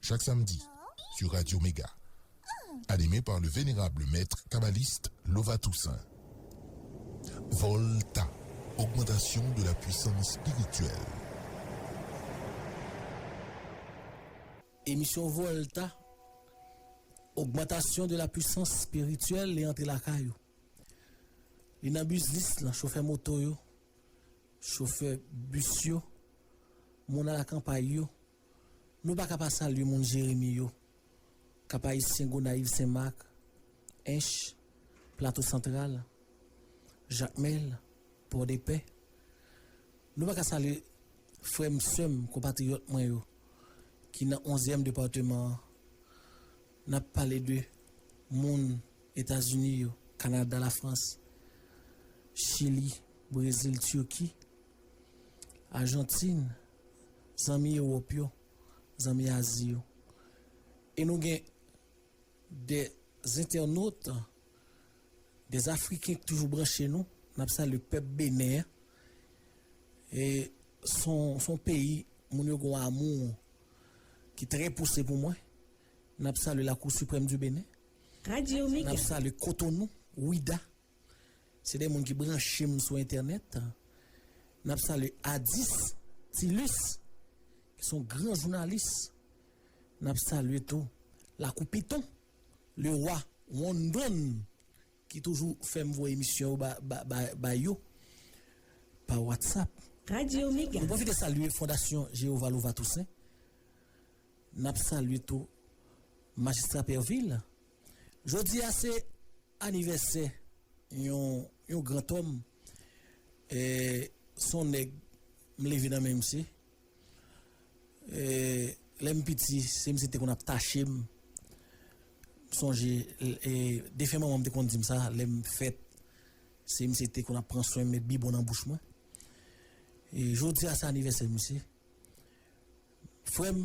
Chak samedi sur Radio Mega Animé par le vénérable maître kabbaliste Lova Toussaint Volta Augmentation de la puissance spirituelle. Emisyon Volta Augmentation de la puissance spirituelle li antre lakay ou. Li nan biznis lan, chofè moto yo, chofè bis yo, moun alakanpay yo, Nou paka pa salye moun Jeremi yo, Kap-Ayisyen, Gonayiv, Sen Mak, Ench, Plato Santral, Jakmèl, Pòdepè. Nou paka salye frè m, sè m, konpatriyòt mwen yo ki nan onzyèm departeman an. N ap pale de moun Etazini yo, Kanada, Lafrans, Chili, Brezil, Tirki, Ajantin. zanmi Ewòp yo, zanmi Azi yo. E nou gen de zentènot, de Afriken ki toujou branche nou. N ap salye pèp Benen an. E s on peyi moun yo gen yon amou ki trè pouse pou mwen. N ap salye la Cour Suprême du Bénin. N ap salye Cotonou, Ouidah. Se de moun ki branche m sou entènèt. N ap salye Adis Tilus ki se yon gran jounalis. N ap salye tou Lakou Piton, Lewa Wondon ki toujou fè m voye emisyon yo ba yo pa watsap. Nou pwofite salye Fondasyon Jeyova Lova Tousen. N ap salye tou Majistra Pèvil Jodi a se anivèsè yon yon grantòm e son nèg m leve nan men misye e lè m piti se misye ki te konn ap tache m m sonje e defen manman m te konn di m sa lè m fèt se misye ki te konn ap pran swen m met bibon nan bouch mwen e jodi a se anivèsè misye frè m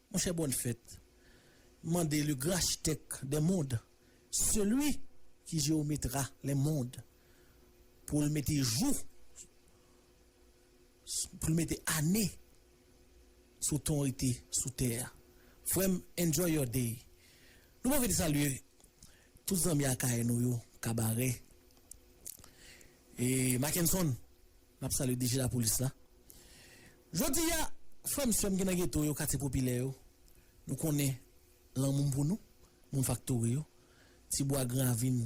Monchè bòn fèt mande le gran achtèk dè mond seli ki jewometra lè mond pou l mete jou pou l mete ane sou ton rete sou tè a frè m enjoy your day nou pwofite salye tout zanmi akayè nou yo kabarè e makenson Nap salye DG lapolis la. Jodi a frèm sèm ki nan geto yo katye popilè yo nou konnen lanmou m pou nou moun faktori yo ti bwa gran avin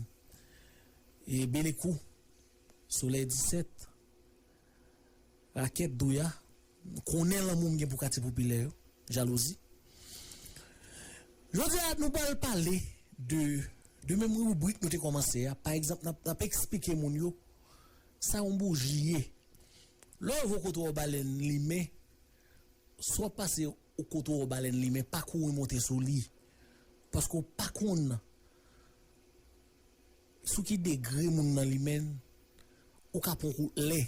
e belekou solèy 17 rakèt douya M konnen lanmou m gen pou katye popilè yo, jalouzi. Jodi a nou pral pale de de menm ribrik nou te kòmanse a, pa egzanp n ap eksplike moun yo sa yon bouji ye. Lè w vo kote w wè balèn limen, si w ap pase kote w wè balèn limen pa kouri monte sou li paske w pa konn sou ki degre moun nan limen, ou ka pran w kout lè.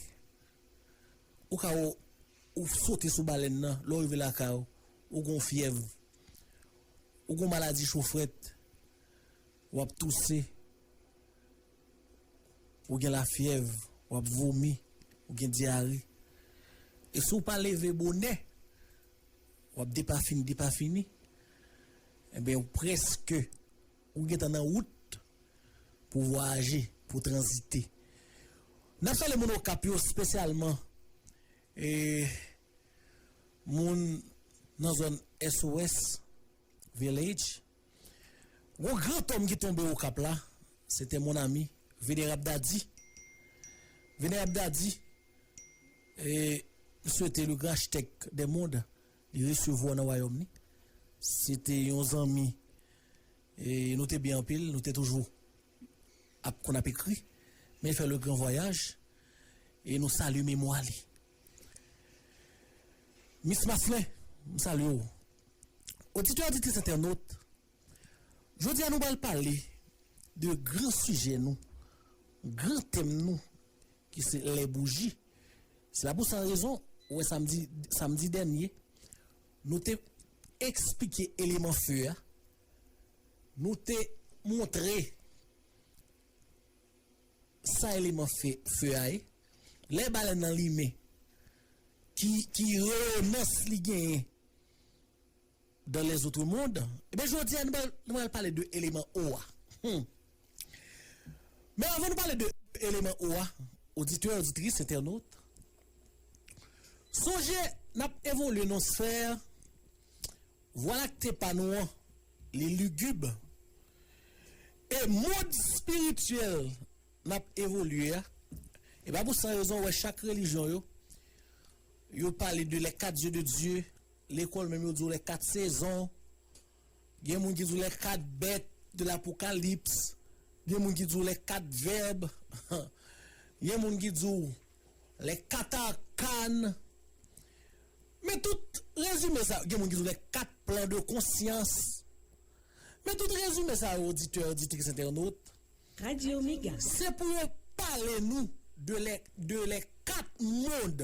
Ou ka ou sote sou balèn nan, lè w rive lakay ou, ou gen yon fyèv, ou gen yon maladi cho frèt, w ap touse, ou gen lafyèv, w ap vomi, ou gen dyare. E si w pa leve bonè, w ap depafini depafini, enben ou prèske Ou gentan nan wout pou vwayaje, pou tranzite. N ap salye moun Okap yo spesyalman e moun nan zòn SOS Village. Gon gran tonm ki tonbe Okap la, se te mon ami Venerab Dadi. Venerab Dadi, e m swete le grand architecte des mondes Li resevwa w nan wayòm li. Se te yon zanmi e nou te byen anpil. Nou te toujou ap konn ap ekri. Men fè le gran vwayaj e nou salye memwa li. Mis Maslin, m salye w. Oditè, oditrice, entènot. Jodi a nou pral pale de gran sijè nou, gran tèm nou ki se lè bouji. Se la pou sa rezon ou wè samdi samdi dènye nou te esplike eleman fe a, nou te montre sa eleman fe fe a ye. Lè balèn nan limen ki ki reyonans li genyen. Dans les autres mondes Ebyen jodi a nou pral nou pral pale de eleman O a Humm Men avan nou pale de eleman O a Oditè, oditris, entènot Sonje n ap evolye nan yon sfè Vwa Lakte pa nou an li ligib E mond espirityèl n ap evolye a E pa pou san rezon ou wè chak relijyon yo Yo pale de les 4 yeux de Dieu Lekòl menm yo di w lè kat sezon, gen moun ki di w lè kat bèt de lapokalips, gen moun ki di w lè kat vèb, gen moun ki di w lè kat arkan. Men tout rezime sa yo, gen moun ki di w lè kat plan de konsyans. Men tout rezime sa yo oditè, oditris, entènot. Radio Mega. Se pou yo pale nou de lè kat mond.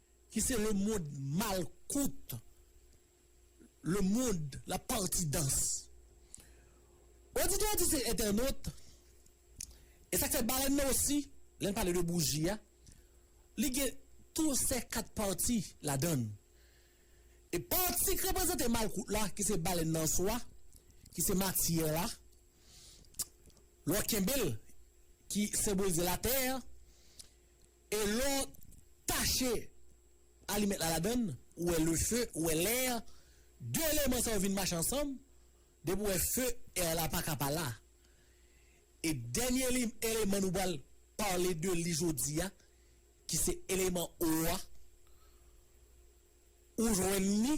Ki se le monde mal kout le monde la parti dans oditè a di se entènot e sak fè balèn nan osi lèn pale de bouji a li gen tou sè kat parti ladann e parti k reprezante mal kout la ki se balèn nan swa ki se matyè la lè w kenbe l ki senbolize latè. E lè w tache alimèt la ladann, ou wè le feu, ou wè l'air, 2 eleman sa yo vin mache ansanm, depi ou wè feu, air la paka pa la. E dènye eleman nou pral pale de li jodi a, ki se eleman eau a, ou jwenn li,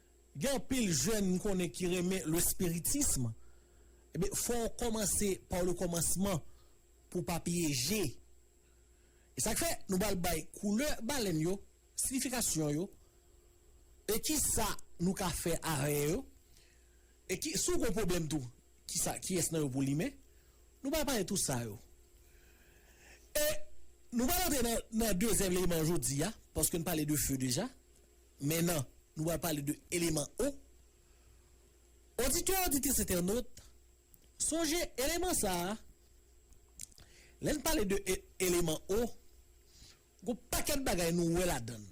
Gen anpil jèn m konnen ki renmen le spiritisme, ebyen fò w kòmanse par le commencement pou w pa pyeje. E sa k fè nou pral bay koulè balèn yo, siyifikasyon yo, e kisa nou ka fè avè yo, e ki si w gon pwoblèm tou kisa kiyès nan yo pou limen, nou pral pale tou sa yo. E nou pral antre nan dezyèm eleman jodi a, paske n pale de feu deja. Men nan, nou pral pale de eleman O. Oditè, oditrice, entènot, sonje eleman sa a, lè n pale de e, eleman O, gon pakèt bagay nou wè ladan l.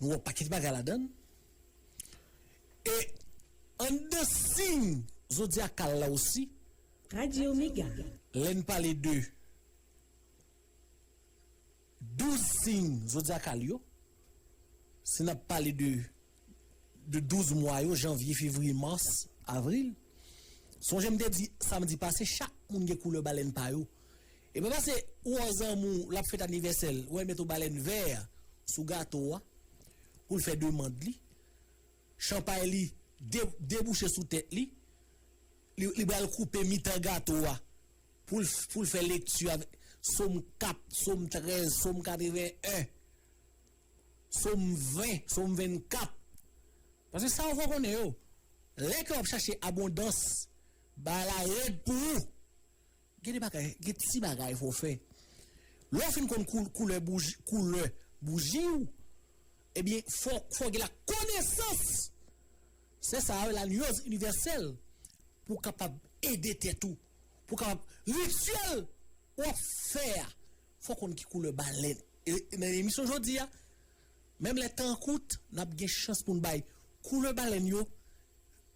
Nou wè yon pakèt bagay ladan l. E anndan siy zodyakal la osi, Radio Mega. lè n pale de. 12 sign zodiacal yo, si nap pale de de 12 mwa yo, janvye, fevriye, mars, avril, sonje m te di samdi pase chak moun gen koulè balèn pa yo. E pa pase ou wè yon zanmi w lap fèt anivèsè l wè l met yon balèn vè sou gato a pou l fè demand li. Chanpay li debouche sou tèt li, li pral koupe mitan gato a pou l fè lekti avèk Som 4, Som 13, Som 81, Som 20, Som 24. Paske sa ou fò konnen yo, lè ke w ap chache abondans, bagay la rèd pou ou. Gen de bagay, gen ti bagay fò w fè. Lè w fin konn koulè bouji, koulè bouji w, ebyen fò w gen la konesans, se sa yo rele la nuance universelle, pou w kapab ede tèt ou, pou w kapab rituel w ap fè a, fò w konn ki koulè balèn. E nan emisyon jodi a, menm lè tan an kout, n ap gen chans pou n bay koulè balèn yo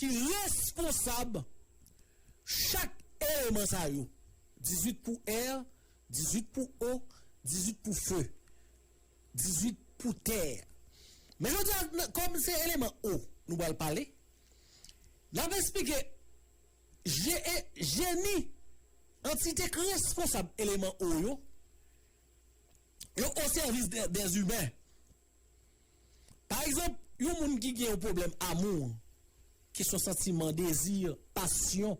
ki responsab chak eleman sa yo, 18 pou air, 18 pou eau, 18 pou feu, 18 pou terre. Men jodi a, kòm se eleman eau nou pral pale, n ap esplike jeni, antite k responsab eleman eau yo, yo o sèvis dèzumen. Pa egzanp, yon moun ki gen yon pwoblèm amour, ki son santiman, dezi, pasyon,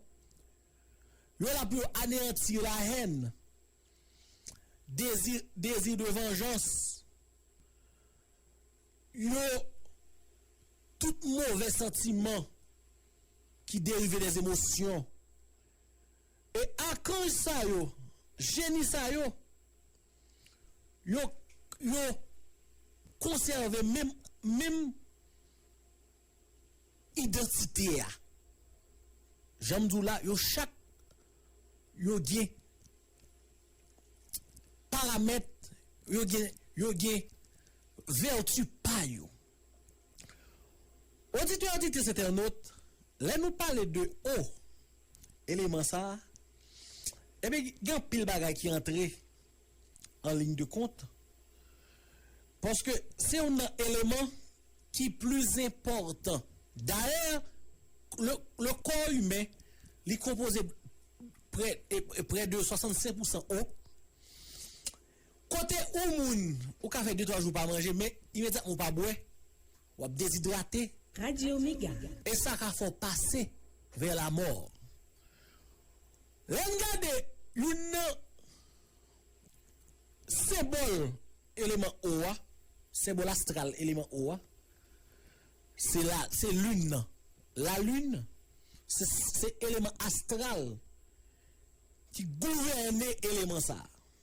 yo la pou yo aneanti la haine, désir, désir de vengeance, yo tout movè santiman ki derive des émotions. E akanj sa yo, jeni sa yo, Yo yo konsève menm menm idantite a. Jan m di w la, yo chak yo gen paramèt, yo gen yo gen vèti pa yo. Oditè, oditrice, entènot, lè nou pale de O, eleman sa, ebyen gen anpil bagay ki antre an liy de kont, paske se youn nan eleman ki pli enpòtan. Dayè, le kò imen li konpoze prè de 65 pousan O. Kote ou moun ou ka fè de twa jou pa manje men imedyatman ou pa bwè w ap dezidrate. Radio Mega. E sa ka fè w pase vè lamò. Lè n gade youn nan senbòl eleman o a, senbòl astral eleman o a, se la se lin nan. Lalin se se eleman astral ki gouvène eleman sa a.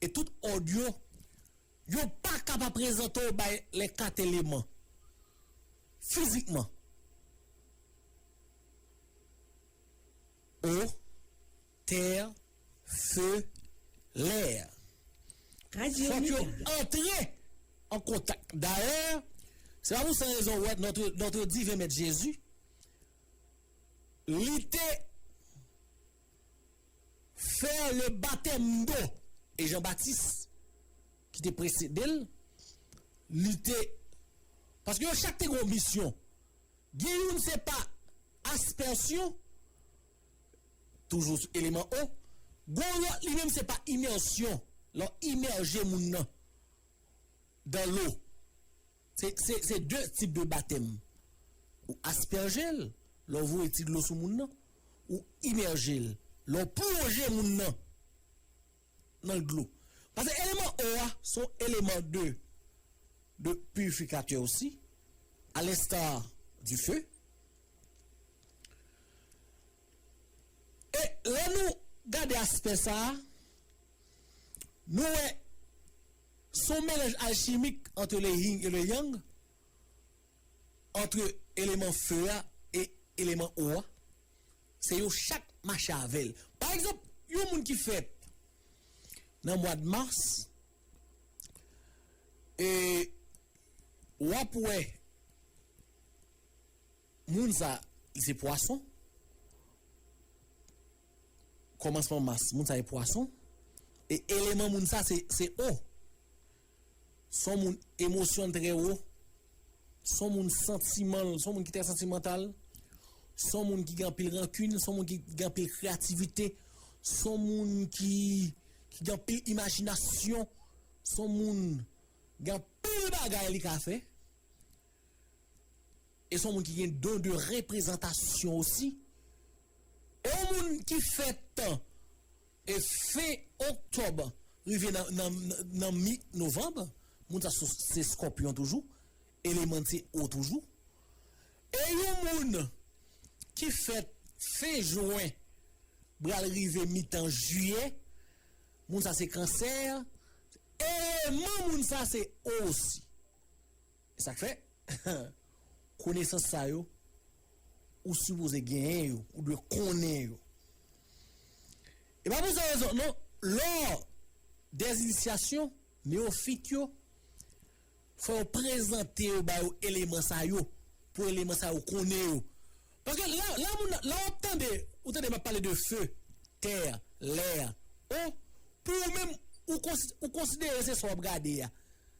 E tout òd yo, yo pa ka pa prezante w bay lè kat eleman. Fizikman. Eau, terre, feu, l'air. Fòk yo antre an kontak. Dayè, se pa pou san rezon ou wè notre diven mèt Jezi, li te. fè le batèmdo e Jan Batis ki te presede l li te paske yo chak te gen yon misyon gen youn se pa aspèsyon toujou sou eleman o gen yon lòt li menm se pa imèsyon lè w imèje moun nan dan lo Se de tip de batèm. Ou aspèje l, lè w voye ti dlo sou moun nan. Ou imèje l, lè w plonje moun nan nan dlo. Pase eleman o a se yon eleman de purifikatè osi, a lensta di fe. E lè nou gade aspè sa a, nou wè. Se yon melanj alchimik antre le yin e le yang, antre eleman fe a e eleman o a. Se yo chak mache ave l. Pa egzanp, yon moun ki fèt nan mwad mas, e w ap wè moun sa li se pwason. Kòmansman mas, moun sa e pwason, e eleman moun sa se se o. Son moun emosyon trè wo, son moun santiman l, son moun ki trè santimantal, son moun ki gen anpil rankin, son moun ki gen anpil kreyativite, son moun ki ki gen anpil imajinasyon, son moun gen anpil bagay li ka fè. E son moun ki gen don de reprezantasyon osi. E yon moun ki fèt e fen oktòb rive nan mi novanb, moun sa se skòpyon toujou, eleman n se o toujou. E yon moun ki fèt fen jwen bral rive mitan jiyè, moun sa se kansè, eleman moun sa se o osi. E sak fè konesans sa yo ou sipoze genyen yo, ou dwe konnen yo. E pa pou san rezon non, lò des initiations neofit yo fò yo prezante yo ba yo eleman sa yo, pou eleman sa yo konnen yo. Paske la la moun nan la wap tande ou tande map pale de feu, terre, l'air oh pou ou menm ou konsi ou konsidere se sa wap gade a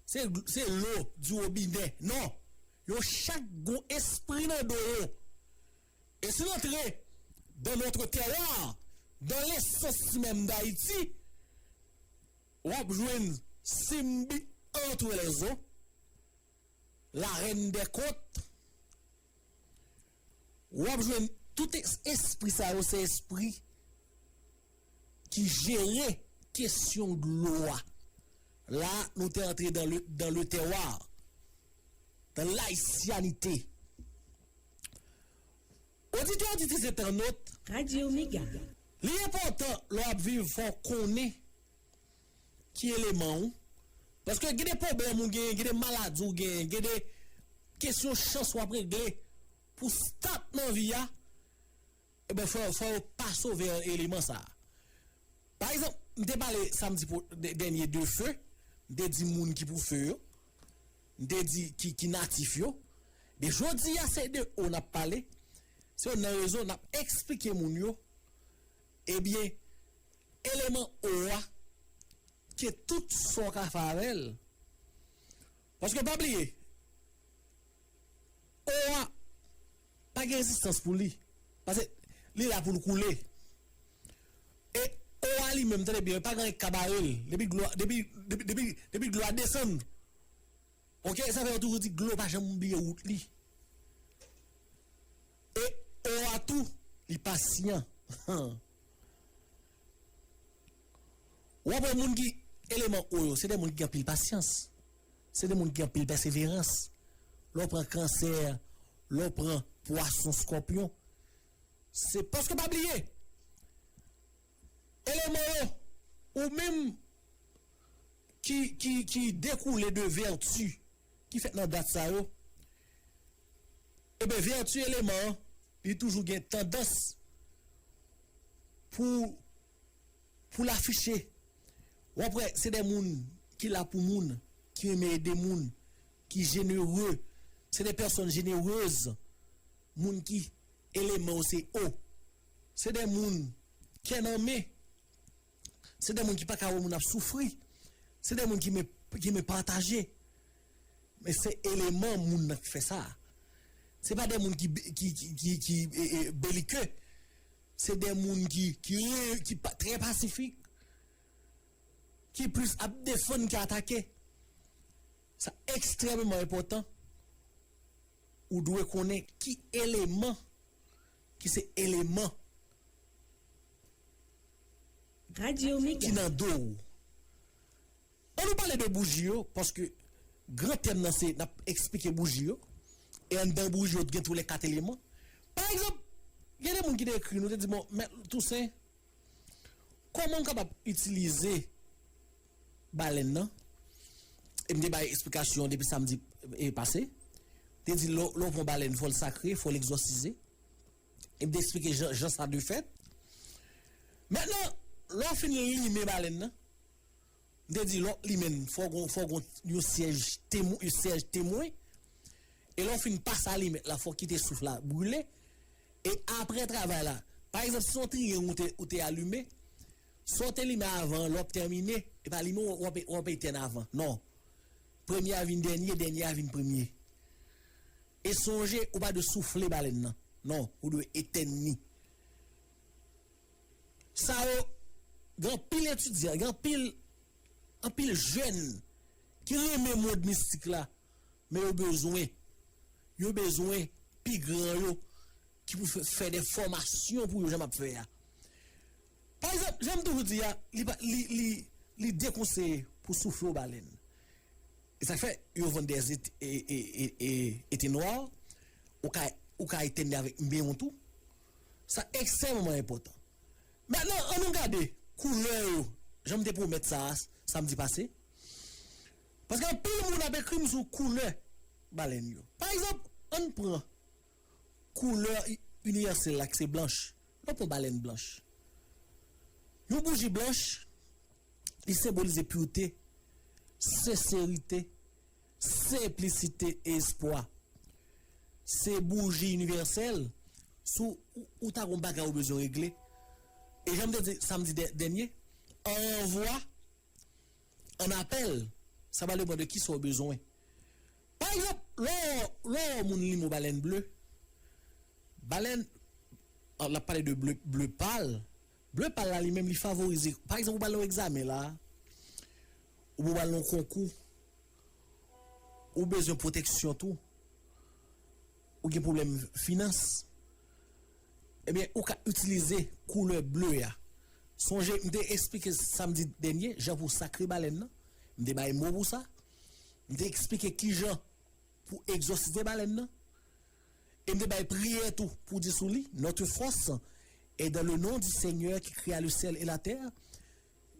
se se lo di robinè non yo chak gon espri nan do yo e si nou antre dans notre terroir dans l'essence menm d'Haiti wap jwenn Simbi entre les eaux la reine des côtes Wap jwenn tout espri sa yo se espri ki jere kesyon dlo a. La nou te antre dan le terroir, dan layisyanite. Oditè oditris entènot, li enpòtan lè wap viv fò konnen ki eleman ou. Paske gen de pwoblèm ou genyen, gen de maladi ou genyen, gen de kesyon chans w ap regle pou w start nan vi a, enben fò fò yo pa sove an eleman sa a. Pa egzanp, m te pale samdi po dènye de fe, m te di moun ki pou fe yo, m te di ki ki natif yo. Ebyen jodi a se de o n ap pale, se nan rezo n ap esplike moun yo. Ebyen, eleman O a, ke tout son ka fè avè l, paske pa bliye, O a pa gen rezistans pou li, pase li la pou l koule. E O a li menm, tande byen, li pa gen anyen ki ka bare l, depi dlo a, depi, depi, depi dlo a desann, ok, sa fè yo toujou di dlo pa janm bliye wout li. E o a tou li pasyan humm. Wap wè moun ki eleman o yo se de moun ki gen anpil pasyans se de moun ki gen anpil pèseverans lè w pran kansè lè w pran pwason skòpyon se paske pa bliye Hello Moro! Ou menm ki ki ki dekoule de vèti ki fèt nan dat sa yo, eben vèti eleman an li toujou gen tandans pou pou l afiche. W ap wè se de moun ki la pou moun, ki renmen ede moun, ki jenere, se de pèsòn jenerez, moun ki. Eleman yo se O. Se de moun kè nan men. Se de moun ki pa ka wè moun ap soufri. Se de moun ki men pataje. Men se eleman moun nan k fè sa. Se pa de moun ki belike. Se de moun ki trè pasifik. Ki plis ap defann ke atake. Sa ekstrememan enpotan. Ou dwe konnen ki eleman ki se eleman ki nan do ou. An nou pale de bouji yo paske gran tèm nan se n ap esplike bouji yo e anndan bouji yo t gen tou lè kat eleman. Pa egzanp, gen de moun ki te ekri nou te di bon, Mèt Tousen, Kòman m kapab itilize balèn nan? E m te bay esplikasyon an depi samdi pase. M te di lè w pran balèn fò l sakre, fò l egzòsize. E m te esplike jan sa dwe fèt. Mètnan, lè w fin limen balèn nan. M te di lòt li menn fò gon fò gon yon syèj temwen yon syèj temwen e lè w fin pase alimèt la fò w kite souf la brile e aprè travay la pa egzanp si se yon triyang ou te ou te alime sa w te limen avan an lè w ap tèmine e pa limen w ap w ap etèn avan non premye a vin dènye dènye a vin premye e sonje ou pa dwe soufle balèn nan non ou dwe etèn ni. sa yo gen anpil etidyan gen anpil anpil jèn ki renmen mond mistik la men yo bezwen yo bezwen pi gran yo ki pou fè de fòmasyon pou yo jan map fè a pa egzanp janm toujou di a li pa li li li dekonseye pou soufle yon balèn e sak fè yo vann de ze e e e e te nwa ou ka ou ka etène avèk mbe yon tou. Sa ekstrèmeman enpòtan. Mentnan an nou gade koulè yo jan m te pwomèt sa a samdi pase. Paske anpil moun ap ekri m sou koulè balèn yo. Pa egzanp, an n pran koulè inivèsèl la ki se blanch. Lè w pran balèn blanch, yon bouji blanch li senbolize purte, senserite. Senplisite espwa se bouji inivèsèl sou ou ta gon bagay ou bezwen regle e jan m te di samdi dènye an ranvwa an apèl sa va depan de kisa w bezwen pa egzanp lè w wè yon moun li mo balèn ble balèn l ap pale de ble pal. Bleu pal la li menm li favorize pa egzanp ou pral nan yon egzamen la oubyen ou pral nan yon konkou ou bezwen pwoteksyon tou ou gen pwoblèm finans ebyen ou ka itilize koulè bleu a sonje m te esplike samdi dènye jan pou sakre balèn nan m te bay mo pou sa m te esplike kijan pou egzòsite balèn nan. E m te bay priyè tou pou di sou li, Notre force est dans le nom du Seigneur qui créa le ciel et la terre,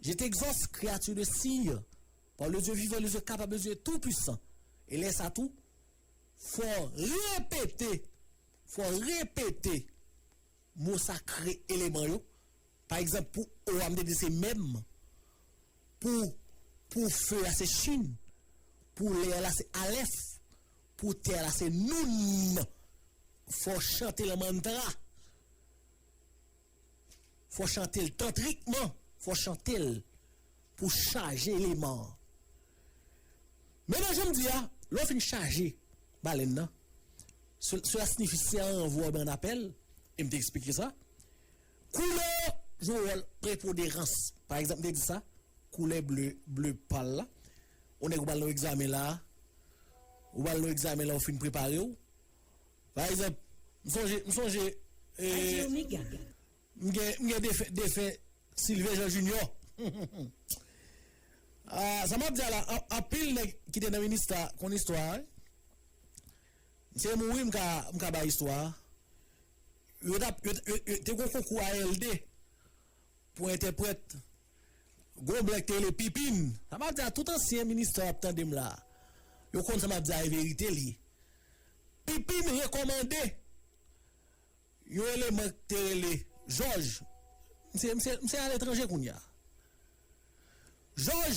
Je t'exauce, créature de cire, par le Dieu vivant, le Dieu capable, le Dieu tout puissant. E lè sa tou, fò repete, fò repete mo sakre eleman yo. Pa egzanp, pou O a m te di se mèm. Pou pou feu a se Shin, pou l'air la se Alef, pou terre la se Noun. Fò w chante l an mantra. Fò w chante l tantrikman. Fò w chante l pou w chaje eleman an. Men nan jan m di a, lè w fin chaje balèn nan, sela sinifi se yon ranvwa ou bay yon apèl, e m te eksplike sa. Koulè yo jwe yon wòl prepoderans. Pa egzanp, m te di sa, koulè ble, ble pal la. Yon nèg ou pral nan yon egzamen la a, ou pral nan yon egzamen la ou fin prepare ou. Pa egzanp, m sonje, m sonje, m gen, m gen defen, defen Silvyen Jan Jinyò. Sa m ap di a la, anpil nèg ki te nan minista konn istwa a wi. Se m wi m ka m ka bay istwa a. Yo tap yo yo te gon konkou ALD pou entèprèt. Gon blan ki te rele Pipin. Sa map di a tout ansyen ministè ap tande m la. Yo konn sa map di a e verite li. Pipin rekòmande yon eleman ki te rele Jòj. Misye misye misye aletranje kounya. Jòj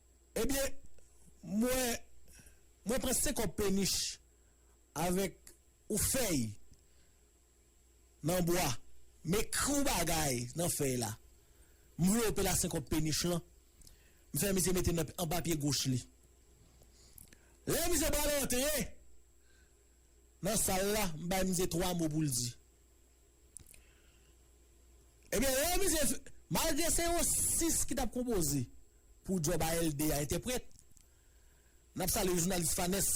Ebyen mwen mwen pran 5 kòb penich avèk ou fèy nan bwa m ekri w bagay nan fèy la m vlope la 5 kòb penich lan m fè misye mete nan anba pye goch li lè misye pral antre nan sal la m bay misye 3 mo pou l di. Ebyen lè misye malgre se yon 6 ki tap konpoze pou djòb ALD a entèprèt nap salye jounalis Fanès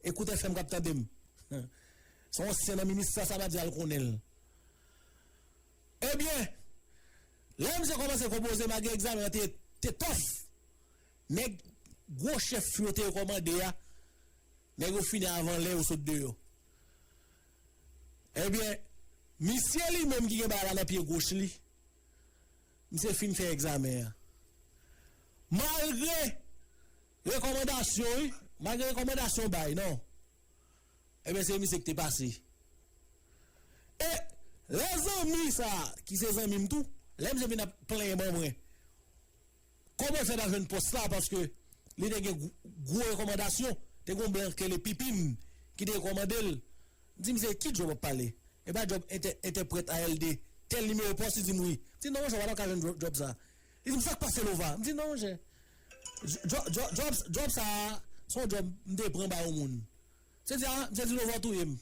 Ekout FM kap tandem se yon ansyen nan minista sa pa di al konnenl ebyen lè misye kòmanse konpoze malgre egzamen an te tòf nèg gwo chèf yo te rekòmande a nèg yo fini avan lè yo sot deyò. Ebyen misye li menm ki gen bagay la nan pye goch li misye fin fè egzamen an malgre rekòmandasyon wi malgre rekòmandasyon bay nan ebyen se misye ki te pase e lè zanmi sa ki se zanmim tou lè misye vin ap plenyen ban mwen. Koman fè pa jwenn pòs la paske li te gen gwo rekòmandasyon te gon blan k rele pipim ki te rekòmandel m di misye ki djòb wap pale e pa djòb entè entèprèt ALD tèl nimewo pòs li dim wi m di non monchè wap ka jwenn djòb sa li dim sak pase lova m di non monchè djòb djòb sa son djòb m te pran bay on moun misye di a misye di lova w touyem.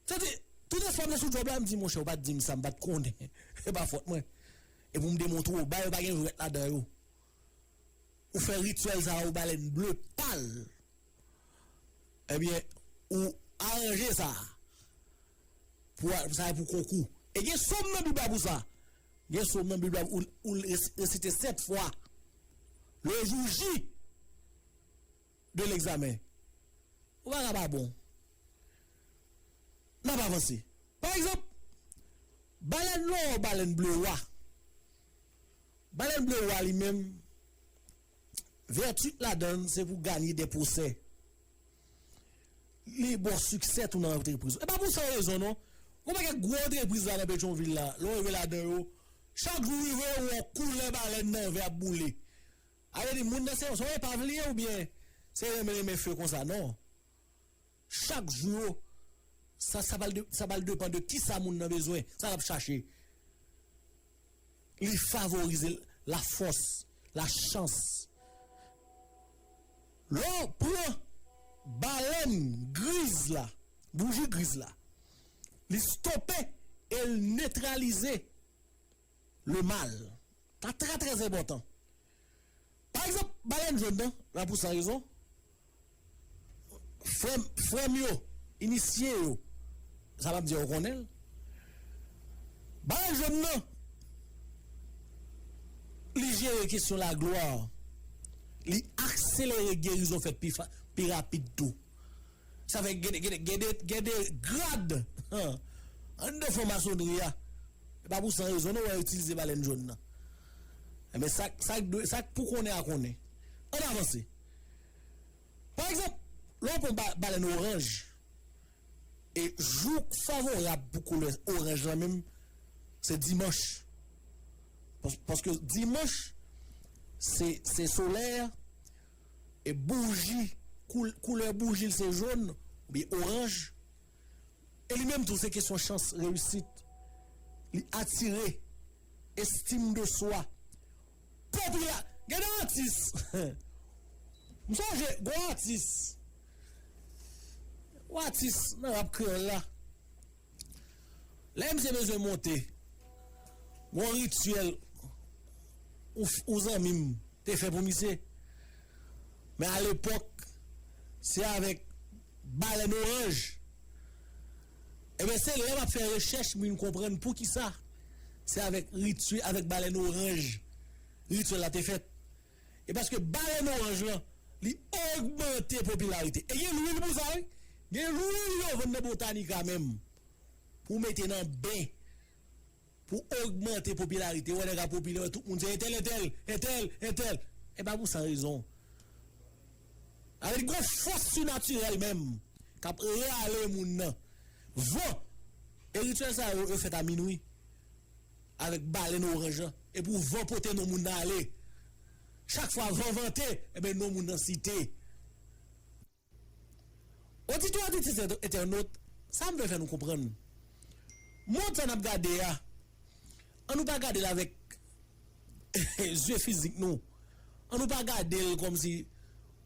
Tande, tout espwa mwen sou djòb la, m di monchè ou pa t di m sa m pa t konnen, se pa fòt mwen. E pou m demontre w, ba yo pa gen jwèt ladan yo. Ou fè rityèl sa a ou balèn ble pal. Ebyen, ou aranje sa a pou a, sa a pou konkou. E gen som nan Bib la pou sa. Gen som nan Bib la ou resite sèt fwa. Lejouji. de l'examen ou pa ka pa bon n ap avanse pa egzanp balèn lò balèn ble wa balèn ble wa li menm vèti ladan l se pou ganye de pwosè li bo siksè tou nan antrepriz ou e pa pou san rezon non gwo pakèt gwo antrepriz la nan petronvil la lè w rive ladan yo chak jou w rive w wè yon koulè balèn nan vè ap boule. Alé di moun nan se yon epav li ye ou byen se renmen renmen few konsa non chak jou sa sa pral sa pral depan de kisa moun nan bezwen sa lap chache li favorize la fòs la chans lè w pran balèn griz la bouji griz la li stope el netralize. Le mal ka trè trè enpòtan. Pa egzanp, balèn jòn nan la pou san rezon, frè m, frè m yo, inisye yo, sa m ap di a yo konnen l, balèn jòn nan, li jere kesyon laglwa, li akselere gerizon fèt pi rapid tou. Sa fè gen gen gen de gen de grad anndan fon masonri a. E pa pou san rezon non wè yo itilize balèn jòn nan. Enben sa k sa k dwe sa k pou konnen a konnen. Ann avanse. Pa egzanp, lè w pran ba balèn oranj, e jou k favorab pou koulè oranj lan menm se dimanch. Pas paske dimanch se se solè a. E bouji koulè boujil se jaune oubyen orange e li menm tou se kesyon chans reyisit li atire estim de swa popila gen de atis m sonje gon atis gon atis nan rap kreyòl la. Lè misye bezwen monte gon rityèl yon zanmi m te fè pou misye men alepòk se avèk balèn oranj enben se lè m ap fè rechèch m vin konprann poukisa se avèk balèn oranj rityèl la te fèt. E paske balèn oranj lan li ogmante popilarite. E gen lwil pou sa wi. Gen lwil yo vann nan Botanica menm pou mete nan ben pou ogmante popilarite. Wè nèg a popilè wè tout moun se entèl entèl, entèl entèl. E pa pou san rezon. Alò li gon fòs sinatirèl menm k ap rale moun nan van. E rityèl sa yo yo fèt a minwi. Avèk balèn oranj lan. Epi w van pote non moun nan ale. Chak fwa van vante, enben non moun nan site. Oditè oditrice entènot, sa m vle fè nou konprann. Mond sa n ap gade a, an nou pa gade l avèk zye fizik nou. An nou pa gade l kòm si,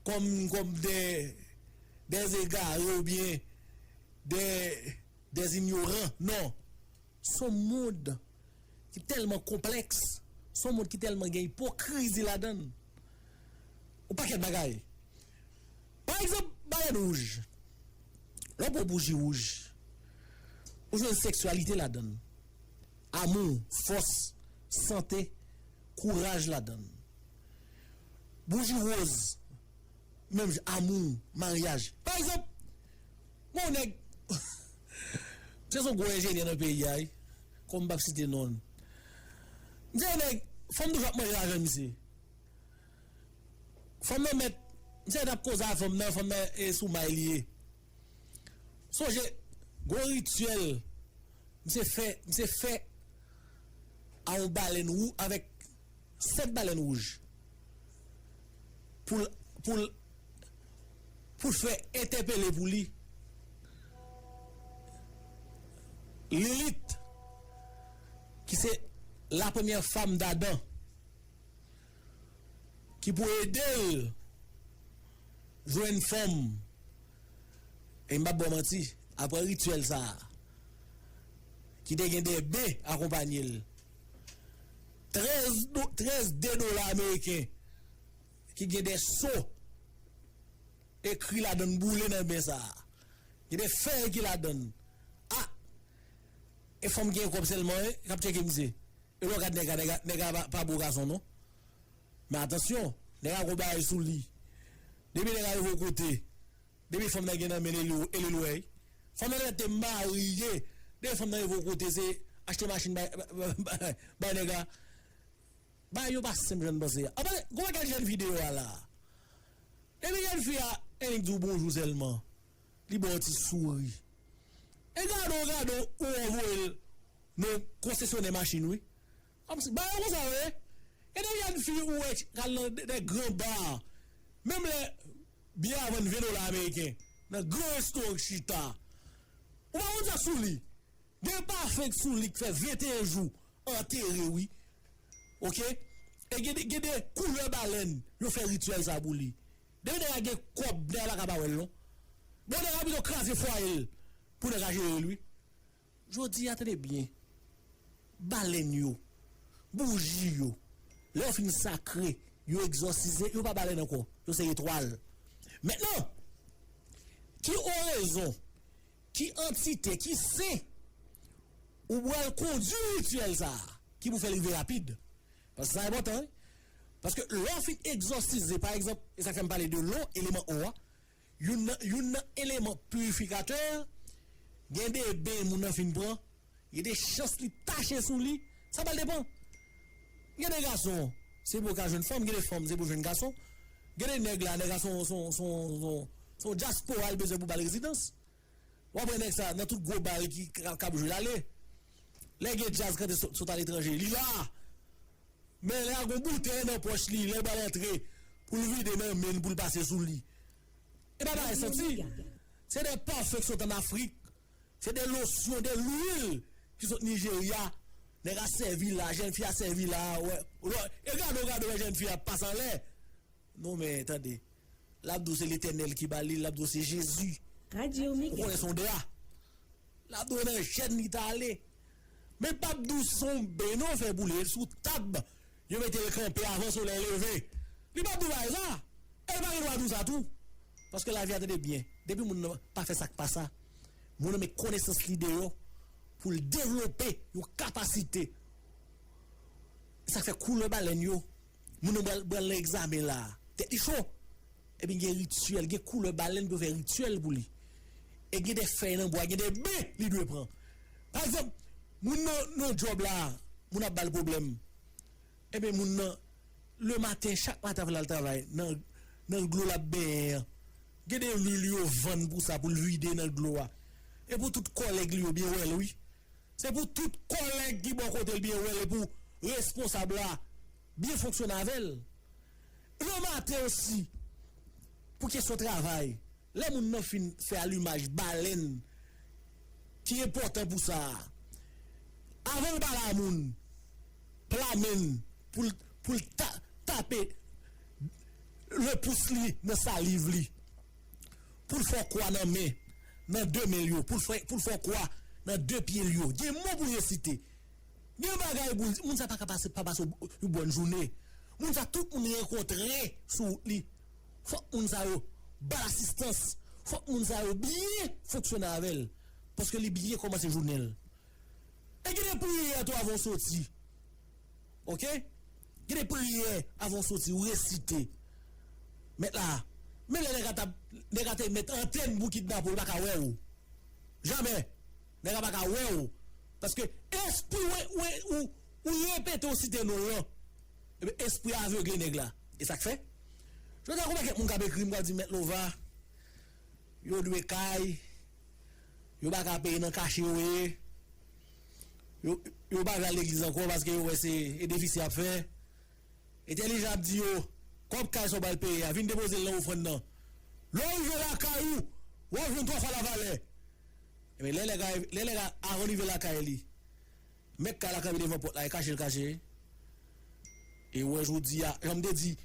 kòm, kòm dè, dè egare oubyen dè, dè inyoran. Non. Son mond ki tèlman konplèks, son mond ki tèlman gen ipokrizi ladan l. Yon pakèt bagay. Pa egzanp, balèn wouj. Lè w pran bouji wouj, ou jwenn seksyalite ladan l, amou, fòs, sante, kouraj ladan l. Bouji woz. menm jan amou maryaj pa egzanp mwen yon nèg se son gwo enjenyè nan peyi a wi kòm m pap site non l m se yon nèg fanm toujou ap manje lajan misye fanm nan mèt misye mèt ap koze avèk fanm nan fanm nan e sou may li ye sonje gwo rityèl misye fè misye fè a yon balèn wou avèk 7 balèn wouj. poul poul poul fè entèpele pou li Lilith ki se la premyè fanm d'Adam ki pou edel jwenn fanm e m pap baw manti aprè rityèl sa ki te gen 2 be akonpanyel. 13 do 13 de dola ameriken ki gen de so ekri ladan n boule nan ben sa a. Gen de fèy ki ladan n. A! E fanm ki gen kòb sèlman e k ap tcheke misye. E lè w gad nèg la, nèg la nèg la pa bo gason non. Men atansyon, nèg la gen yon bagay sou li. Depi nèg la rive yon kote. Depi fanm nan gen nan men li e li lwey. Fanm nan gentan te marye. Depi fanm nan rive yon kote se achte machin bay nèg la. Bagay yo pa senp jan nou panse a. Anpase gwo bagay jèn fi deyò a la. Depi jèn fi a ennik di w bonjou sèlman li ba w ti souri. E gadon gadon ou anvoye l nan yon konsesyonè machin wi. Ap se bayo konsa wi. E de jèn fi ou wè ki al nan de gran bar menm lè biyè a vann 20 dola ameriken nan gran restoran ki chita ou pa konn sak sou li gen pafen ki sou li ki fè 21 jou antere wi ok e gen de koulè balèn yo fè rityèl sa pou li depi nèg la gen kòb nèg la paka pa wèl non bon nèg la pito kraze fwaye l pou nèg la jerel wi. Jodi a, tande byen, balèn yo, bouji yo, lè yo fin sakre, yo egzòsize, yo pa balèn ankò, yo se etwal. Mentnan, ki orezon, ki antite, ki sen ou pral kondui rityèl sa a ki pou fè l rive rapid? Paske sa enpòtan wi. Paske lè w fin egzòsize, pa egzanp, e sa k fè m pale de lo, eleman o a, Youn nan youn nan eleman purifikatè a, gen de ben moun nan fin pran, gen de chans li tache sou li, sa pral depan. Gen de gason, se pou yo ka jwenn fanm, gen de fanm se pou jwenn gason. Gen de nèg la, nèg la son son son son son dyaspora li bezwen pou ba l rezidans. Wap wè nèg sa nan tout gwo bar ki kap jwe lale lè gen djaz kante sot aletranje li la men lè gon boutèy nan pòch li lè bal antre poul vide nan menn poul pase sou li e pa bagay santi se de pafin ki sot an afrik se de losyon de lwil ki sot nijerya nèg a sèvi la jèn fi a sèvi la wè e gadon gadon lè jèn fi a pase anlè. Non men tande lap di w se letènèl ki ba li lap di w se jezi ou konnen son dra lap di w nan jèn li ta ale men pap di w si son ben non fè boule sou tab yo mete l kanpe avan solèy leve li pap di w bagay sa e li pa gen dwa di w sa tou paske lavi a tande byen depi moun nan pa fè sak pa sa moun nan met konesans li deyò pou l devlope yon kapasite sak fè koulè balèn yo Moun nan bal bal nan egzamen la. Tèt li cho. Ebyen gen rityèl, gen koulè balèn pou yo fè rityèl pou li. E gen de fèy nan bwa, gen de be li dwe pran. Pa egzanp, moun nan nan djòb la, moun ap ba l pwoblèm. Ebyen moun nan, le maten, chak maten avan l al travay, nan nan dlo l ap benyen an, gen de lwil yo vann pou sa, pou l vide nan dlo a. E pou tout kòlèg li yo byen wè l wi. Se pou tout kòlèg ki bò kote l byen wè l e pou responsab la byen fonksyone avè l. Remate osi pou kesyon travay, lè moun nan fin fè alimaj balèn ki enpòtan pou sa a, avan l pale a moun, pla men l pou l tape le pous li nan saliv li. pou l fè w kwa nan men nan de men l yo, pou l fè pou l fè w kwa nan de pye l yo. Gen mo pou resite. Gen bagay pou l di. Moun sa pa ka pase pa pase w yon bòn joune. Moun sa tout moun rankontre sou wout li. Fòk moun sa yo ba l asistans. Fòk moun sa yo byen fonksyone avè l paske li byen kòmanse jounen l. E gen de priyè tou avan w soti Ok gen de priyè avan ou soti ou resite mèt la menm lè nèg a tap nèg a te mèt antèn pou kidnape ou li paka wèw jamè nèg la paka wèw paske espri wè wè ou ou repete ou site nonl lan ebyen espri a avegle nèg la esak fè jodi a gon pakèt moun kap ekrim kap di mèt lova yo dwe kay. Yo pa ka peye nan kache yo ye. Yo pa vle al legliz ankò paske yo wè se edefis y ap fè. Entèlijan ap di yo, Kòb kay sa w pral peye a, vin depoze l nan ofrann nan. Lè w rive lakay ou, w ap jwenn twa fwa lavalè. Lè nèg la, avan l rive lakay li, Mèt kay la kanpe devan pòt la e kache l kache e wè jodi a jan m te di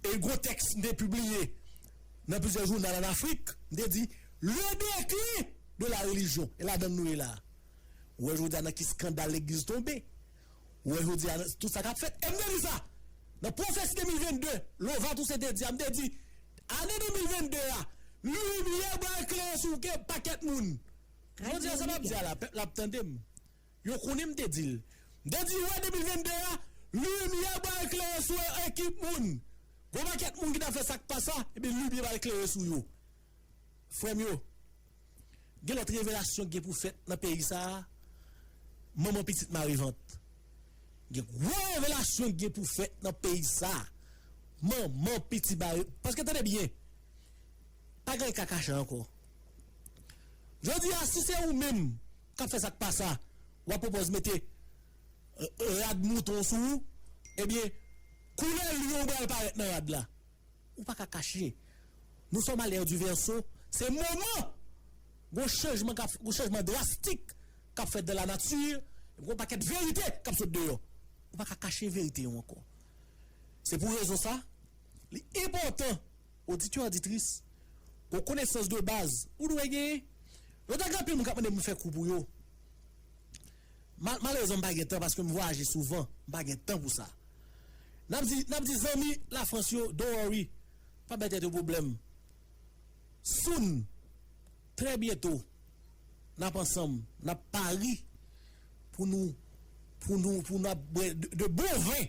e gwo tèks m te pibliye nan plizyè jounal an Afrik m te di le declin de la religion e ladan l nou ye la a ou wè jodi a nan ki skandal legliz tonbe ou wè jodi a nan tout sa k ap fèt e m te di sa nan pwofesi 2022 Lova Toussaint te di a m te di ane 2022 a limyè bal klere sou kè pakèt moun jodi a sa m ap di a la pèp la ap tande m. Yo konnen m te di l. M te di wè 2022 a, limyè pral klere sou yon ekip moun. Gon pakèt moun ki t ap fè sa k pa sa, ebyen limyè pral klere sou yo. Frè m yo, gen lòt revelasyon ki gen pou fèt nan peyi sa a, manman pitit mare vant. Gen gwo revelasyon ki gen pou fèt nan peyi sa a, manman pitit mare vant. Paske tande byen, pa gen kakacha ankò. Jodi a, si se ou menm kap fè sak pasa wap pwopòz mete rad mouton sou ou ebyen koulè lyon pral parèt nan rad la ou paka kache nous sommes à l'ère du verseau se moman gon chanjman kap gon chanjman drastik kap fèt dans la nature ebyen gon pakèt verite kap sot deyò ou paka kache verite yo ankò se pou rezon sa li enpòtan Oditè, oditris, gon konesans de baz ou dwe genyen. Mwen ta gen anpil moun k ap mande m pou m fè kou pou yo. Malerezman m pa gen tan paske m vwayaje souvan, m pa gen tan pou sa. N ap di, n ap di zanmi Lafrans yo, don't worry, pa bay tèt yo pwoblèm. Soon, trè byento, n ap ansanm, n ap pari pou nou, pou nou, pou nou ap bwè de bon vin.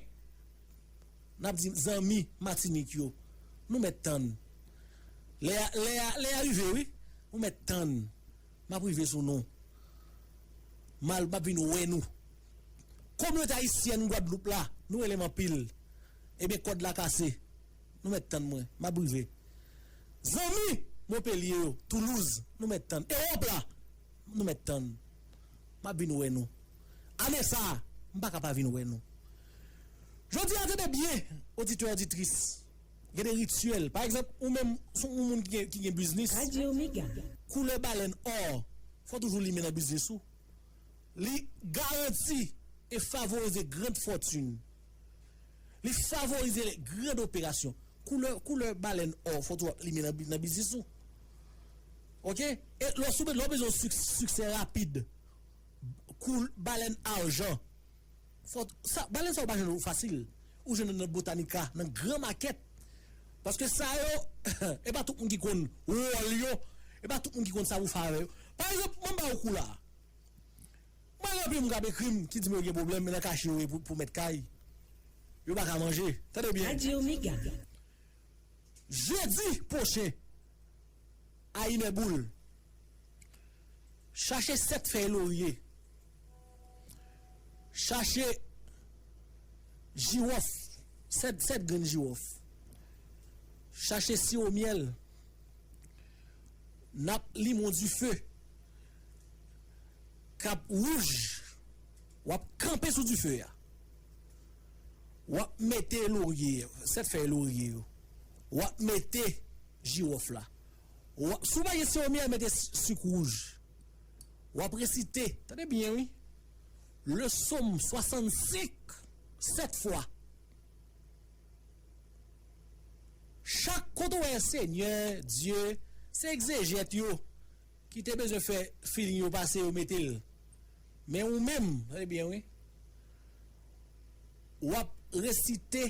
N ap di zanmi Matinik yo, Nou mèt tann. Lè a, lè a, lè a rive wi. Nou mèt tann. M ap rive sou nou. M al, m ap vin wè nou. Kominote ayisyèn Gwadloup la, nou rele m anpil. Ebyen kòd la kase. Nou mèt tann mwen. M ap rive. Zanmi Monpelye yo, Toulouz, nou mèt tann. Ewòp la, nou mèt tann. M ap vin wè nou. Ane sa a, m pa ka pa vin wè nou. Jodi a, tande byen, oditè oditris, gen de rityèl. Pa egzanp, ou menm, si w se yon moun ki gen biznis. Koulè balèn ò, fò w toujou limen nan biznis ou. Li garanti e favorize grand fòtin. Li favorize grand operasyon. Koulè balèn ò, fò w toujou ap limen nan biznis ou. Ok e lè w sou lè w bezwen yon siksè rapid kou balèn ajan fò sa balèn sa ou pa jwenn yo fasil ou jwenn yo nan botanica nan gran makèt paske sa yo e pa tout moun ki konn wòl yo e pa tout moun ki konn sa pou fè avè yo pa egzanp mwen ba ou kou la mwen gen anpil moun k ap ekri m ki di m yo gen pwoblèm men nan kache yo ye pou mèt kay yo pa ka manje tande byen. Jeudi pwochen. A inè boul. Chache sèt fèy lorye. Chache jiwòf, sèt, sèt grenn jiwòf. Chache siwo myèl. Nap limon dife. Kap wouj. Wap kanpe sou dife a. Wap mete lorye, sèt fèy lorye yo. Wap mete Jiwòf la. Wa, si w pa gen siwo myèl mete si, sik wouj. W ap resite, tande byen wi, le Som 65 sèt fwa. Chak kote w wè Senyè Dye, se egzejèt yo ki te bezwen fè feeling yo pase yo mete l. Men ou menm, tande byen wi, w ap resite.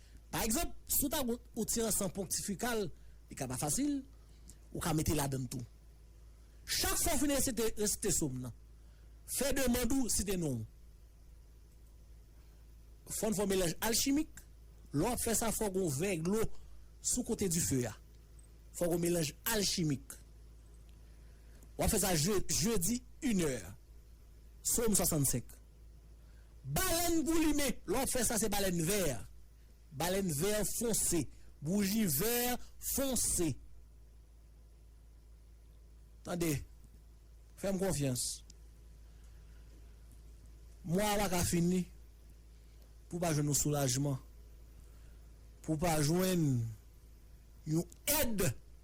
Pa egzanp, si w ta goutt ou ti an san ponktifikal, li ka pa fasil, ou ka mete ladann tou. Chak fwa w fin resite, resite som nan. Fè demand ou site non w. Fò n fè yon melanj alchimik, lè w ap fè sa fò gen yon vè dlo sou kote dife a. Fò gen yon melanj alchimik. W ap fè sa je, jedi inè. Som 65. Balèn goulimen, lè w fè sa se balèn vè. Balèn vè fonse, bouji vè fonse. Tande, fè m konfyans. Mwa a pa ka fini pou w pa jwenn yon soulajman, pou w pa jwenn yon èd.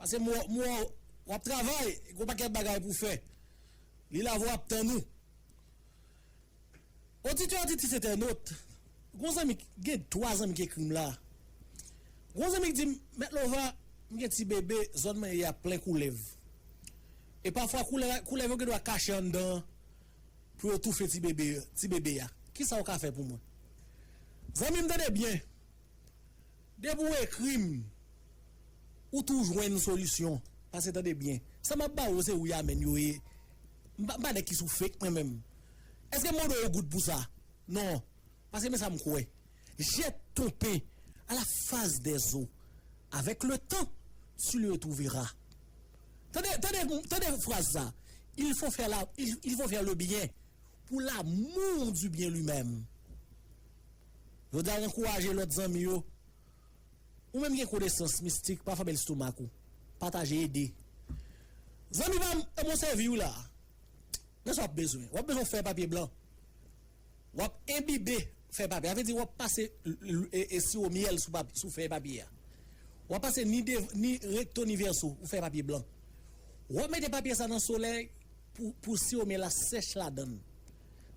Pase m wè w w ap travay e gen yon pakèt bagay pou w fè. Li lave w ap tann ou. Oditè Auditrice Entènot, gon zanmi gen 3 zanmi ki ekri m la. Gon zanmi ki di m, Mèt Lova, m gen ti bebe, zòn mwen ye a plen koulèv. E pafwa koulèv yo gen dwa kache anndan an pou yo toufe ti bebe ti bebe a. Kisa ou ka fè pou mwen? Zanmi m tande byen. Depi ou ekrim ou tou jwenn solisyon pase tande byen sa map baw yo se wi amen yo ye m pa nèg ki sou fake mwen menm eske m mande w yon goud pou sa non pase men sam kwè je ton pen a la faz dè zo avèk le tan tu le twouveras tande tande tande fraz sa il fo fè la il fo fè le byen pou la moun di byen li menm. Jodi a w ankouraje lòt zanmi yo. Ou menm gen konesans mistik, pa fèmen lestomak ou. Pataje, ede. Zanmi pa m, e mwen sèvi w la a. Men sa w ap bezwen. W ap bezwen yon fèy papye blan. W ap enbibe fèy papye a. Sa vle di w ap pase siwo myèl sou fèy papye a. W ap pase ni devan, ni rekto, ni vèso sou fèy papye blan. W ap mete papye sa a nan solèy pou siwo myèl la sèch ladan l.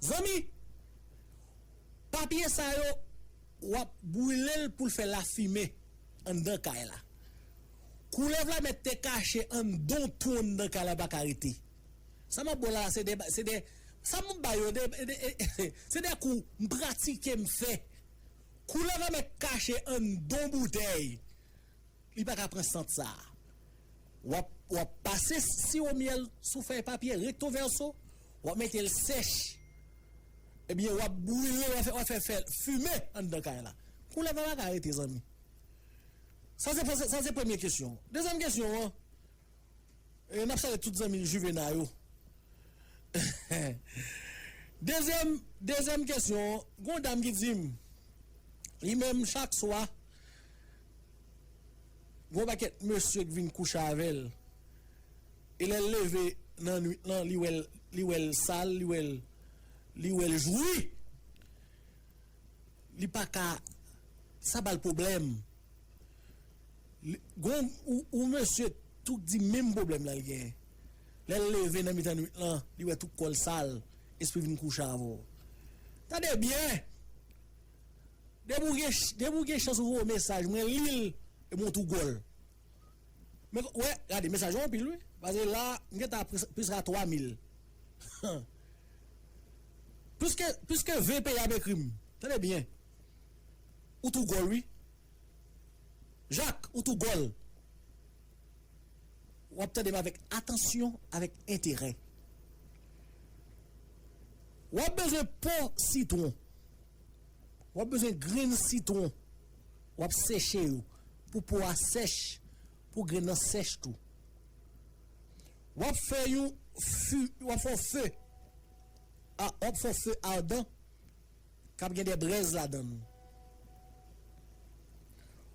Zanmi! Papye sa yo wap brile l pou l fè lafimen anndan kay la. Koulèv la mèt te kache anndan yon twou anndan kay la li pa ka rete. Sa map ba w la a se de se de sa map ba yo se de kou m pratike m fè. Koulèv la mèt kache anndan yon boutèy. Li pa ka pran sant sa a. Wap wap pase siwo myèl sou fèy papye recto verso, wap mete l sèch ebyen wap brile wap fè wap fè fè fime anndan kay la. Koulèv la pa ka rete zanmi. Sa se fè sa se premye kesyon. Dezyèm kesyon an e nap salye tout zanmi Juvena yo. Dezyèm dezyèm kesyon an gon dam ki di m li menm chak swa Gon pakèt mesye k vin kouche avèl e lèl leve nan nwit lan li wèl li wèl sal li wèl li wèl jwi li paka sa bal problèm li gon ou mesye tou k di menm problèm lan li genyen lèl leve nan mitan nwit lan li wè tout kòl sal espri vin kouche avèw tande byen. Depi ou gen chans ou voye mesaj mwen lil e mwen tou gol. Men wè gade mesaj ou anpil wi paske la m gen ta plis ka 3 mil. Plis ke 20 peyi ap ekrim tande byen ou tou gol wi. Jak ou tou gol. Wap tande m avek atansyon avek enterè. Wap bezwen po sitwon. Wap bezwen grenn sitwon. Wap seche yo pou po a sèch, pou grenn nan sèch tou. Wap fè yon fè, wap fè yon fè, wap fè yon fè adan. kap gen de brèz ladann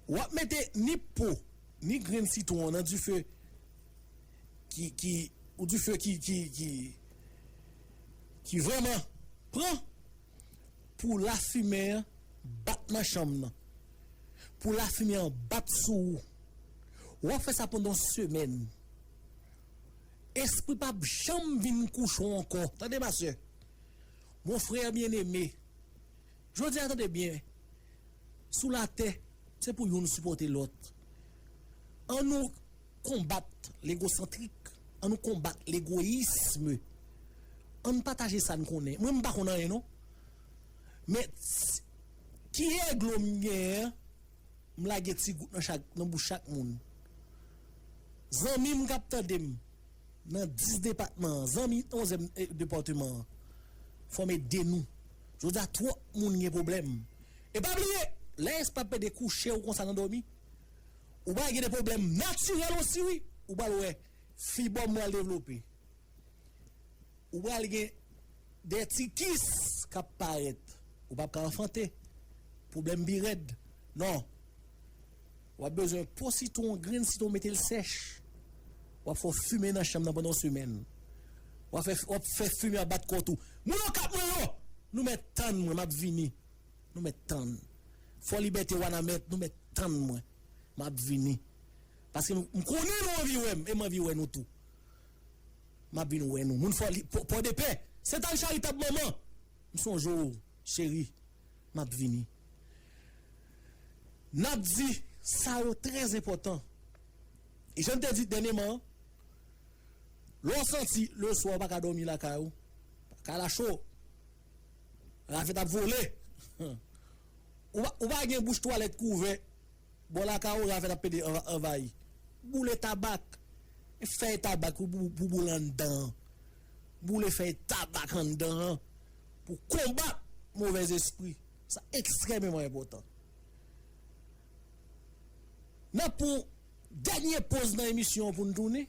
wap mete ni po ni grenn sitwon an nan dife ki ki ou dife ki ki ki ki vrèman pran pou lafimen an bat nan chanm nan pou lafimen an bat sou ou wap fè sa pandan yon semèn espri pap janm vin kouche w ankò tande ma sè. Mon frère bien aimé, jodi a tande byen, sou latè se pou youn sipòte lòt. An nou konbat legosantrik, an nou konbat legoyism, an n pataje sa n konnen. Mwen m pa konn anyen non, men ki eglo m genyen an, m lage ti gout nan bouch chak moun. Zanmi m k ap tande m. Nan 10 depatman an, zanmi 11 èm depòteman an, fòme de nou. Jodi a twòp moun gen pwoblèm. E pa bliye, lè espapè de kouche ou konsa nan dòmi, ou pral gen de pwoblèm natirèl osi wi. Ou pral wè fibòm pral devlope. Ou pral gen de ti kis k ap parèt. Ou p ap ka anfante. Pwoblèm pi rèd. Non. Wap bezwen po sitwon an grenn sitwon metel sèch wap fè w fimen nan chanm nan pandan yon semèn wap fè fimen an bat kò tou moun okap mwen yo nou mèt tann mwen map vini nou mèt tann fò libète wanament nou mèt tann mwen map vini paske m konnen nou anvi wèm em anvi wè nou tou map vin wè nou moun fò pòdepè sental charitab manman m sonje w cheri Map vini. Nap di sa yo trè enpòtan. E jan n te di dènyeman an, lè w santi leswa ou pa ka dòmi lakay ou, kay la cho, ravèt ap vole, ou pa gen bouch twalèt ki ouvè. Bò lakaw Raven ap pede anvayi. Boule tabak. Fèy tabak pou boule anndan an. Boule fèy tabak anndan an pou konbat movèzespri. Sa ekstrèmeman enpòtan. N ap pran yon dènye poz nan emisyon an pou n tounen.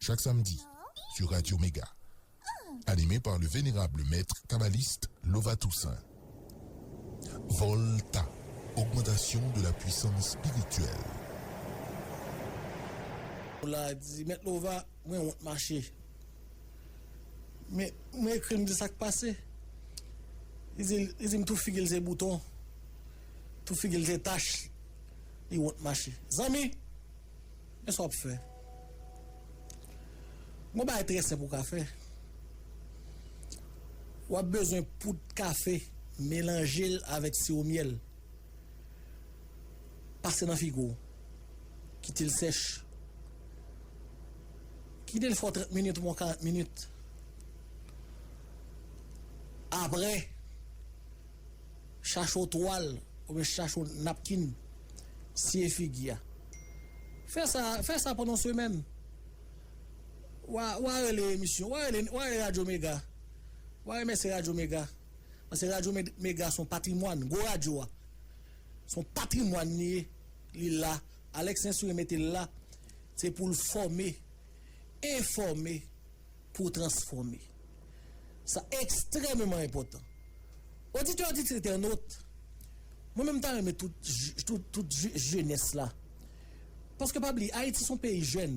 Chak samedi sur Radio Mega anime par le venerable maître kabbaliste Lova Toussaint Volta augmentation de la puissance spirituelle. Pola di, Mèt Lova, mwen wont mache. Men, mwen ekri l, m di l sa k pase. Li di l, li di m tout figi l se bouton, tout figi l se tach, li wont mache. Zanmi! Men sa w ap fè. Gon bagay trè senp ou ka fè. W ap bezwen poud kafe, melanje l avèk siwo myèl. Pase nan figo w. Kite l sèch. Kite l fè w 30 minit oubyen 40 minit. Aprè. Chache yon twal oubyen chache yon napkin, siye figi a. Fè sa, fè sa pandan yon semèn. Wa, wa rele emisyon, wa rele, wa rele Radyo Mega. Wa remèsye Radyo Mega. Paske Radyo Mega se yon patrimwàn, gwo radyo a. Se yon patrimwàn li ye, li la. Alex Sainsourire mete l la, se pou l fòme, enfòme. pou w transfòme. Sa ekstrèmeman enpòtan. Oditè, oditrice, entènot, mwen menm m ta renmen tout tout tout jenès la, paske pa bliye Ayiti son peyi jèn,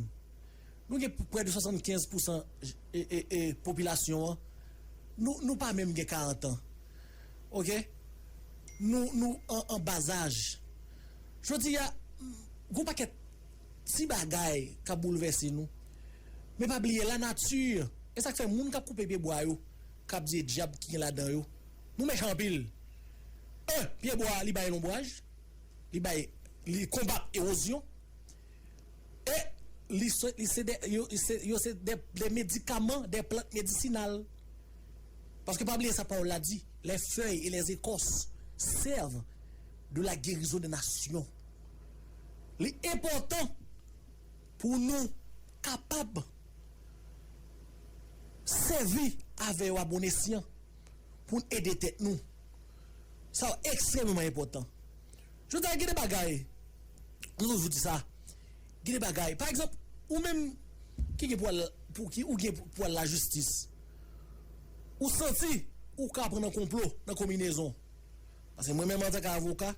nou gen prè de 75 pousan popilasyon an, nou nou pa menm gen 40 an ok, nou nou an an bazaj. Jodi a gon pakèt. Ti bagay k ap boulvèse nou. Men pa bliye lanati, e sa k fè moun k ap koupe pyebwa yo, k ap diye dyab ki gen ladan yo, nou mechan anpil. 1, Pyebwa li bay lonbraj, li bay, li konbat ewozyon, e li se, li se de, yo, yo se de, de medikaman, de plant medisinal. Paske pa bliye sa pawòl la di, les feuilles et les écorces servent de la guérison des nations. Li enpòtan pou nou kapab sèvi avè yo a bon esyan pou n ede tèt nou. Sa yo ekstrèmeman enpòtan. Jodi a gen de bagay, nou toujou di sa, gen de bagay, pa egzanp, ou menm ki gen pou al, pou ki ou gen pou al lajistis, ou santi ou ka pran nan konplo, nan konminezon. Pase mwen menm antanke avoka.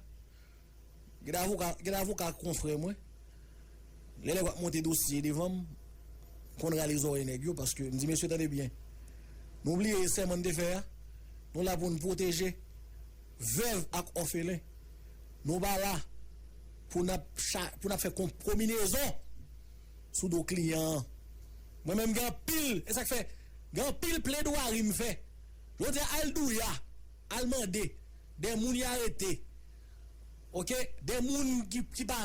Gen avoka gen avoka konfrè mwen lè nèg ap monte dosye devan m konn rale zòrèy nèg yo paske m di mesye tande byen nou bliye sèman n te fè a nou la pou n pwoteje vèv ak òfelen nou pa la pou n ap cha pou n ap fè kon kominezon sou do kliyan an mwen menm gen anpil e sa k fè gen anpil pledwari m fè yo di al douya al mande de moun y arete Ok de moun ki pa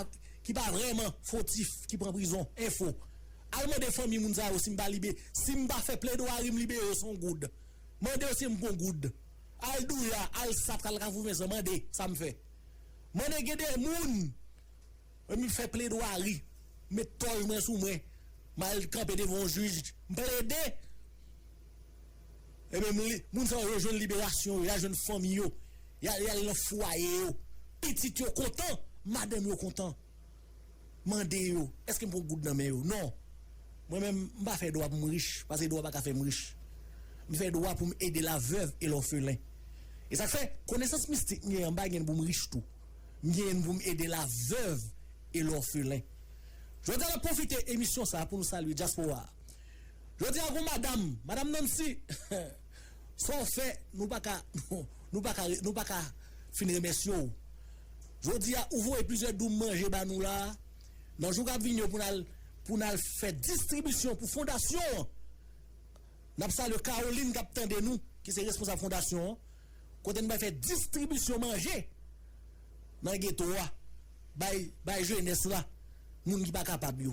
ki pa vrèman fotif ki pran prizon info al mande fanmi moun sa yo sim pa libe sim pa fè pledwarim libere yo son goud mande yo sim gon goud al douya al sapt al kafou vincent mande sam fè mande gen de moun m fè pledwari met tòj mwen sou mwen mal kanpe devan yon jij m plede. Ebyen moun sa yo yo jwenn liberasyon yo, yal jwenn fanmi yo, yal nan fwaye yo, pitit yo kontan, madanm yo kontan. Mande yo, eske m pran yon goud nan men yo? Non. Mwen menm, m pa fè dwa pou m rich, paske dwa pa ka fè m rich. M fè dwa pou m ede la veuve et l'orphelin. E sa k fè, konesans mistik m genyen an, m pa genyen pou m rich tou. M genyen pou m ede la veuve et l'orphelin. Jodi a n ap pwofite emisyon sa a pou nou salye dyaspora a. Jodi a gon madam, madam Nancy, sa w fè nou pa ka nou pa ka nou pa ka fin remèsye w. Jodi a ou voye plizyè doum manje ba nou la a, nan jou k ap vini yo pou n al pou n al fè distribisyon pou fondasyon an. N ap salye Caroline k ap tande nou ki se responsab fondasyon an kote nou pral fè distribisyon manje nan geto a bay bay jenès la, moun ki pa kapab yo.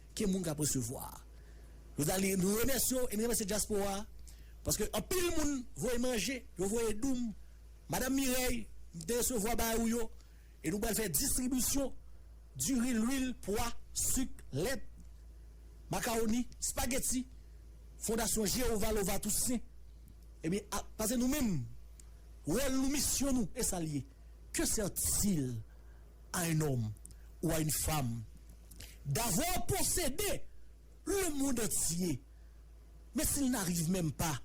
Ke moun kap resevwa. Rosalie nou remèsye w e n remèsye dyaspora a paske anpil moun voye manje yo voye doum madam Mireille m te resevwa bagay ou yo e nou pral fè distribisyon diri lwil pwa suk lèt makawoni spageti fondasyon Jehovah Lova Toussaint ebyen a pase nou menm wòl nou misyon nou esal ye ke sètil a un homme ou a une femme D'avoir possédé le monde entier, mais s'il n'arrive même pas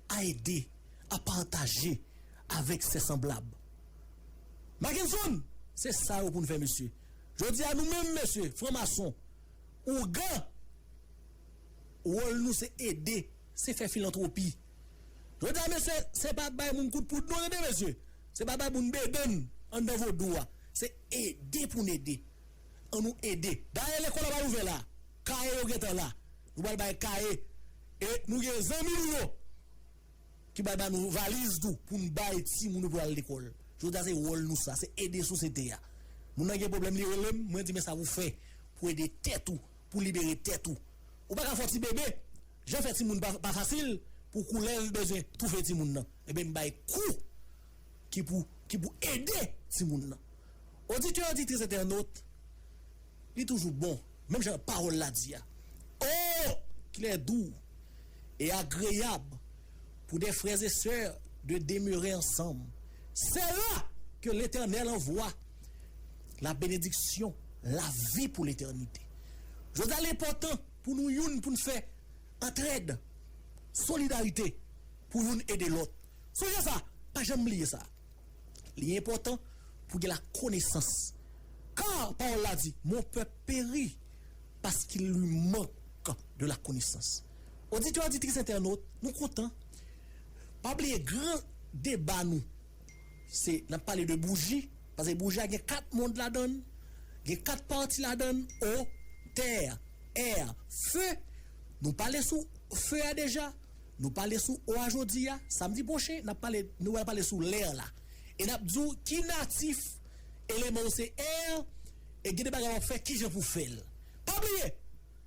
à aider, à partager avec ses semblables. Mackenson, se sa yo pou n fè mesye. Jodi a nou menm mesye, franmason, ougan, wòl nou se ede, se fè filantwopi. Jodi a mesye, se pa bay moun kout poud non tande mesye, se pa bay moun bedenn anndan vodou a, se ede pou n ede. An nou ede. Dayè lekòl la pral ouvè la. Kaye yo gentan la. Nou pral bay kaye. E nou gen zanmi nou yo ki pral ba nou valiz tou pou n bay timoun yo pou yo al lekòl. Jodi a se wòl nou sa. Se ede sosyete a. Moun nan gen pwoblèm li rele m, mwen di men sa pou fè pou ede tèt ou, pou libere tèt ou. Ou pa ka fè yon ti bebe. Jan fè timoun pa fasil pou koulè l bezwen toufe timoun nan. Enben m bay kou. ki pou ki pou ede timoun nan. Oditè oditris entènot, li toujou bon, menm jan pawòl la di a, O! Ki lè dou e agreyab pou de frè e sè de demere ansanm! Se la ke Letènèl anvwa labenediksyon lavi pou letènite. Jodi a, l enpòtan pou nou youn pou n fè. Antrèd, solidarite pou youn ede lòt. Sonje sa, pa janm bliye sa. Li enpòtan pou gen lakonesans. Ka pawòl la di, Mon pèp peri paskil li mank de lakonesans. Oditè, oditris, entènot, nou kontan. Pa bliye gran deba nou. Se nap pale de bouji, pase bouji a gen 4 mond ladann, gen 4 pati ladann, o, tè, è, fe, nou pale sou fe a deja, nou pale sou o a jodi a, samdi pwochen nap pale, nou pral pale sou lè la, e nap di w ki natif eleman w se è, e gen de bagay wap fè kijan pou fèl. Pa bliye!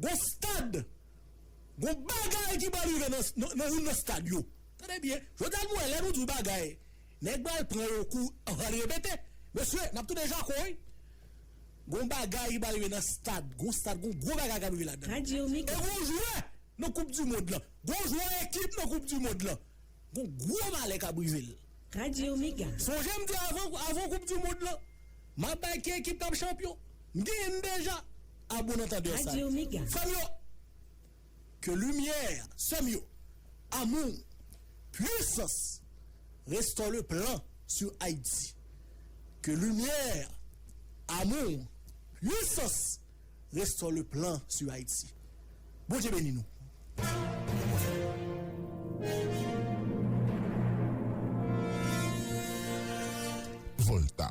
Gon stad, gon bagay ki pral rive nan youn nan stad yo. Tande byen, jodi a nou wè lè nou di yon bagay, nèg pral pran yon kou, anvan al repete. Mesye, n ap tounen jako wi. Gon bagay ki pral rive nan stad, gon stad, gon gwo bagay k ap rive ladan l. E gon jwè nan koup di mond lan, gon jwè ekip nan koup di mond lan, gon gwo malè k ap rive l. Sonje m di avan koup di mond lan, m ap bay ki ekip k ap chanpyon. M genyen m deja. A bon antandè sa li di frèm yo ke limyè sèm yo amour pwisans restore le plan sur Haïti ke limyè amour pwisans restore le plan sur Haïti Bondye beni nou. Volta,